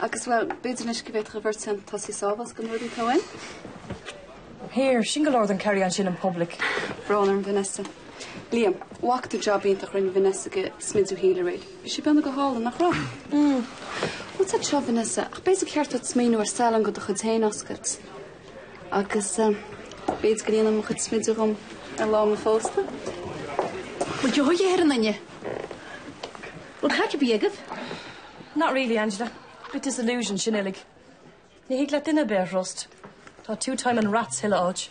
Agus, bhuel, b'fhéidir anois go bhféadfadh an bheirt cheann tosaigh sábháilt go nuadaí tóin. Here, sin go leor den carry-on sin in public. Brón orm Vanessa. Liam, Nach jab iontach rinne Vanessa den smideadh shíl mé. Bhí sé beannaithe go hálainn, nach raibh? Mm. Fadhb ar bith, Vanessa? Ach b'fhéidir gur cheart duit smaoineamh ar salon de do chuid féin a oscailt. Agus, eh, b'fhéidir go ndéanfá mo chuid smideadh dhom ar lá mo phósta. Bhuel, gheobhaidh a fhireann inniu. Bhuel, cad cibé agaibh? Not really, Angela. Bit disillusioned sin uilig. Ní thig leat duine ar bith a thrust. Tá two-timing rats chuile áit.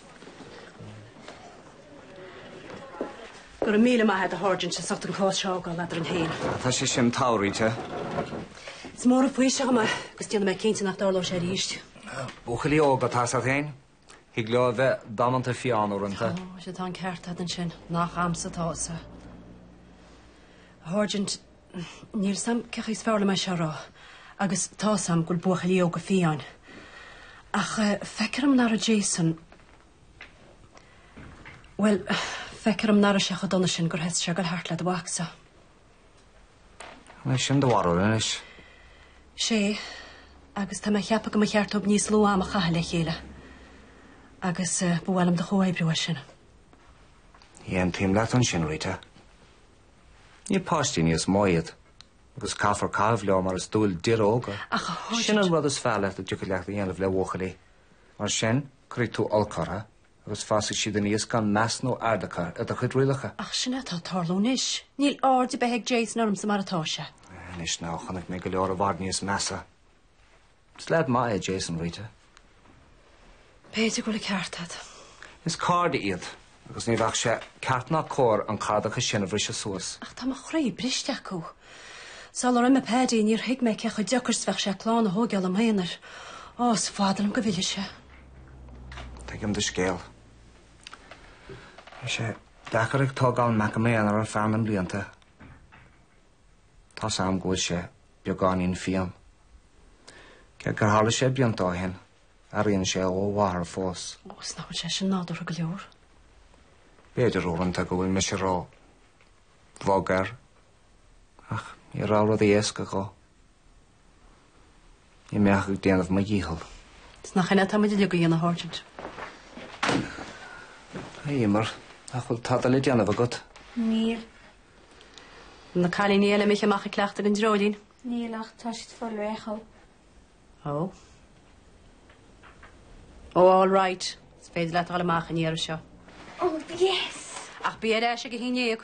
Go raibh míle maith a'd a sháirsint as ucht an cás seo a fhágáil eadrainn féin. Ah, tá sé sin all right a Rita. Is mór an faoiseamh agam é agus déanfaidh mé cinnte nach dtarlóidh sé arís. Buachaillí óga tá's a'd féin. Thig leo a bheith damanta fiáin uaireanta. Ó, sea, tá an ceart a'd ansin, nach a'msa atá a fhios, a sháirsint. Níl 's a'm cén chaoi is fearr dhom é seo a rá, agus tá's a'm go bhfuil buachaillí óga fiáin, ach feictear dhom nach raibh Jason, bhuel, feictear dhom nach raibh sé chomh dona sin gur thosaigh sé ag goil thart le do mhacsa. An é sin do bharúil anois? Sé, agus tá mé a cheapadh go mba cheart dóibh níos lú ama a chaitheamh le chéile agus eh, ba mhaith liom do chomhoibriú ar sin. Aontaím leat ansin, Rita. Ní páistí níos mó iad, agus caithfear caitheamh leo mar is dual d'fhir óga. Ach a Hoyt- Sin an rud is fearr a dtiocfadh leat a dhéanamh le buachaillí. Mar sin, cuirfidh tú olc orthu Agus fásfaidh siad aníos gan meas nó aird acu ar do chuid rialacha. Ach sin é atá ag tarlú anois. Níl aird ar bith ag Jason ormsa mar atá sé. Anois now, chonaic mé go leor i bhfad níos measa. Is leaid maith é Jason, Rita. B'fhéidir go bhfuil an ceart a't. Is cairde iad, agus ní bheadh sé ceart ná cóir an cairdeas sin a bhriseadh suas. Ach tá mo chroí briste acu. Sular imigh Paddy, níor thuig mé cé chomh deacair 's bheadh sé clann a thóigeáil i m'aonar. Ó, is fada liom go bhfillfidh sé. Tuigim do scéal. Bhí sé deacair ag tógáil mo mhic i m'aonar ar feadh na mblianta. Tá's am go bhfuil sé beagáinín fiain. Cé gur tharla sé blianta ó shin, airíonn sé uaidh a mháthair fós. Ó, is nach bhfuil sé sin nádúrtha go leor? B'fhéidir uaireanta go bhfuil mise ró bhog air, ach ní raibh rudaí éasca dhó. Ní raibh mé ach ag déanamh mo dhícheall. Is nach shin atá muid uilig a dhéanamh, a Sháirsint? A Emer, nach bhfuil tada le déanamh agat? Níl. An bhfuil na cailíní eile imithe amach ag cleachtadh an dreoilín? Níl, ach tá siad ag fáil réidh dhó. Ó? Ó, all right. Is féidir leat dul amach an iarraidh seo. Oh, yes! Ach bí ar ais ag a haon dhéag.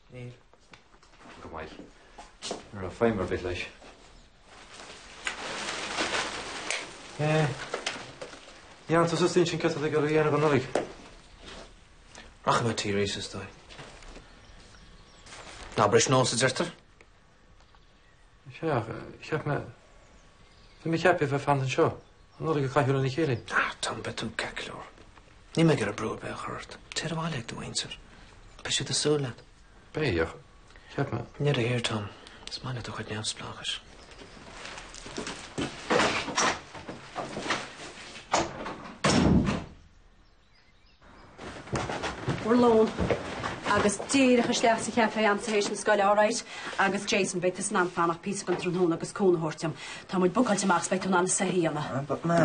Níl. Go maith. Ní raibh feidhm ar bith leis. An ndearna tú suas d'intinn céard atá tú ag goil a dhéanamh don Nollaig. Rachaidh mé t'aoir aois, is dóigh. Ná bris nós, a deirtear. Féach, cheap mé, bhí mé ag ceapadh a bheith fanta anseo an Nollaig a chaitheamh lena chéile. Ah, Tom, beidh tú ceart go leor. Níl mé ag iarraidh brú ar bith a chur ort. Téir abhaile ag do mhuintir. Beidh siad ag súil leat. Beidh, cheap mé. Níl a fhíor, Tom. Is maith leat do chuid neamhspleáchais. bhur lón agus díreach isteach sa chaifé agam tar éis na scoile, alright? Agus Jason, beidh tusa in ann fanacht píosa den tráthnóna agus cúnamh a thabhairt dom. Tá muid bookáilte amach is beidh tú in ann na soithí a dhéanamh. Ah, but ma.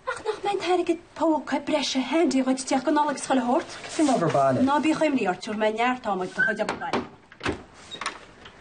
Ach nach mbeidh an t-airgead póca breise handy dhuit isteach go Nollaig scoile a thabhairt? Sin obair bhaile. Ná bíodh imní ort, tabharfaidh mé neart am ag do chuid obair bhaile.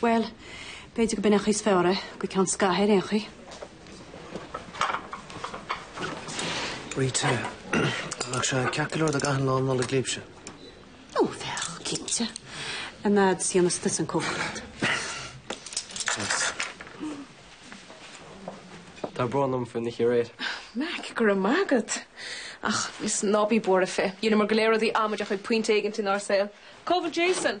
Bhuel, b'fhéidir gurb in an chaoi is fearr é, go ceann scaithimh ar aon chaoi. Rita, an mbeadh sé ceart go leor dá gcaithfinn lá Nollag libhse? Ó, bheadh, cinnte. An fhad is a dhéananns tusa an chócaireacht. Tá brón orm faoin oíche aréir. Mac, go raibh maith agat. Ach, is ná bí buartha fé. Dheineamar go léir rudaí amaideacha ag pointe éigint inár saol. Cá bhfuil Jason?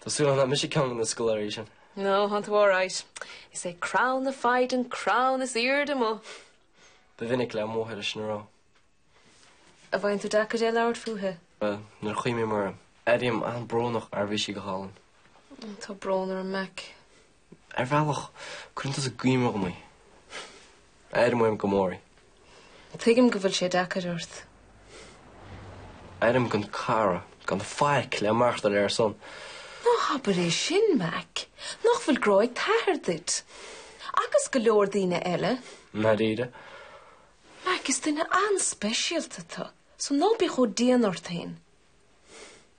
Tá súil agam nach mise ceann de na scoláirí sin. No, tánn tú alright. Is é crann na foighde an crann is airde amuigh. Ba mhinic le mo mháthair é sin a rá. An bhfaigheann tú deacair é labhairt fúithi? Bhuel, nuair a chuimhním uirthi, airím an-bhrónach mar bhí sí go hálainn. Tá brón orm, Mac. Ar bhealach, cuireann tusa i gcuimhne dom í. Airím uaim go mór í. Tuigim go bhfuil sé deacair ort. Airím gan cara, gan faic le maireachtáil ar a shon. Ná habair é sin, Mack. Nach bhfuil grá ag t'athair duit? Agus go leor daoine eile? I ndáiríre? Mack, is duine an-speisialta thú, so ná bí chomh dian ort féin.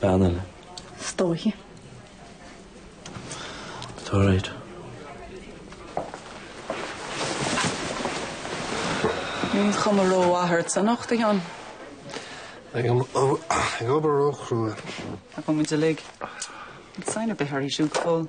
Ceann eile. Is dóiche. Tá alright. Níl cuma rómhaith ort anocht, a Sheáin. Ag an ag obair róchrua. Tá agus muid uilig. Aon sign ar bith uirthi siúd go fóill?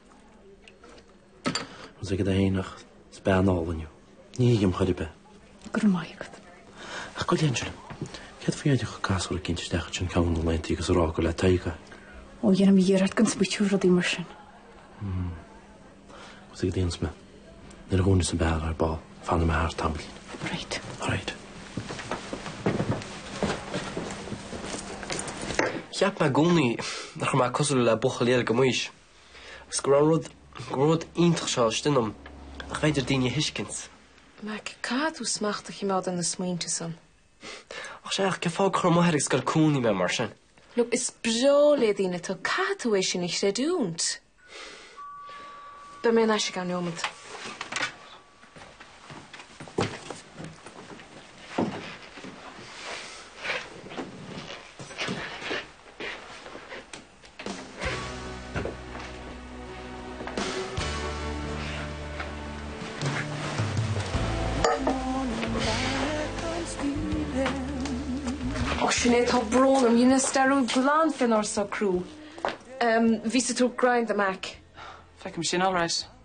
Thosaigh siad a thaonach, 's bean ál inniu. Ní thuigim chor ar bith. Grma agat. Ach go léann sibh! Céard faoi éirí chuig gasúr ag tíocht isteach ansin ceann de na laethanta agus a rá gur le Tadhg é. Ó, déanaim iarracht gan smaointiú ar rudaí mar sin. Hm. Agus ag daonas me. Nuair a dhúnfas an beár ar ball, fanfaidh mé thart tamall. Right. Right. Cheap mé i gcónaí nach raibh mé cosúil le buachaillí eile de m'aois. Agus go raibh rud, go raibh an rud iontach seo istigh ionam nach féidir le daoine a thuiscint. Mac, Caithfidh tú smacht a chimeád ar na smaointe san. Ach sé, ach cén fáth gur chuir m'athair ag scoil chónaithe mé mar sin? Look, is breá le daoine tú, caithfidh tú é sin a chreidiúint. Beidh mé thar n-ais i gceann neomaid. Och, sin é, tá brón orm, dheineas dearúd glan fénár socrú. Umm, bhíos ag tabhairt grind do Mac. Feicim sin alright.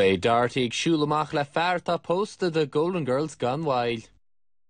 Beidh Dorothy ag siúl amach le fear atá pósta. The Golden Girls gan mhoill.